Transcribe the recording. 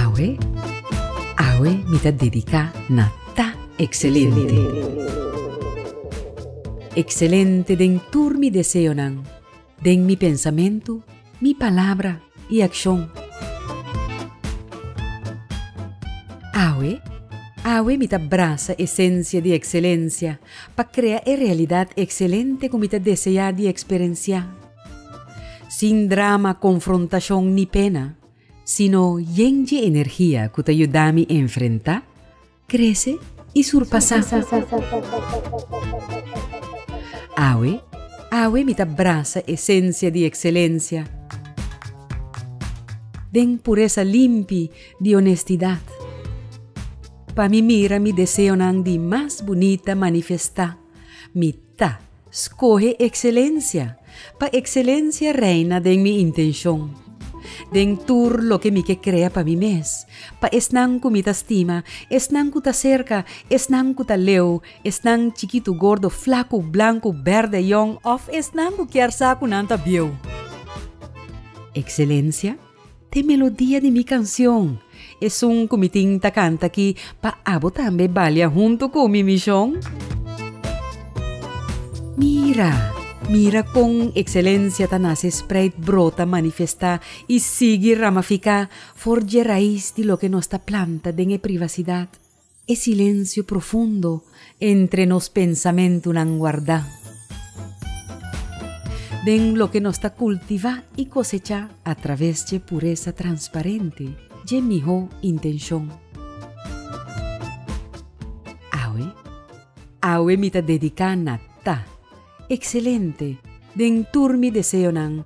Awe, awe mi ta dediká na ta ekselente. Ekselente den tur mi deseonan Den mi pensamentu, mi palabra i akshon. Awe, awe mi ta brasa esensia di ekselensia pa krea e realidat ekselente ku mi ta deseá di eksperensiá. Sin drama, konfrontashon ni pena, sino yen dje energia ku ta yuda mi enfrentá Krese i surpasá. Awe, awe mi ta brasa esensia di ekselensia. Den puresa limpi di onestidat. Pa mi mira mi deseonan di mas bunita manifestá, mi ta. Skohe ekselencia, pa ekselencia reina den mi intenshon, den tur loke mi ke krea pa mi mes, pa esnan ku mi ta stima, esnan ku ta serka, esnan ku ta leu, esnan chikitu, gordo, flaku, blanku, bèrdè, yòn òf esnan ku kier sa ku nan ta bieu. Ekselencia, T'e melodia di mi canción. Esun cu mi tin ta canta aki pa abo tambe balia hunto cu mi mision. Mira, mira con excelencia ta nace spreid brota manifesta y sigui ramafica for dje raiz di loke nos ta planta den e privacidad. E silensio profundo entre nos pensamentunan guardá. Den loke nos ta kultivá i kosechá atraves dje puresa transparente, dje mihó intenshon. Awe, awe mi ta dediká na ta. Ekselente den tur mi deseonan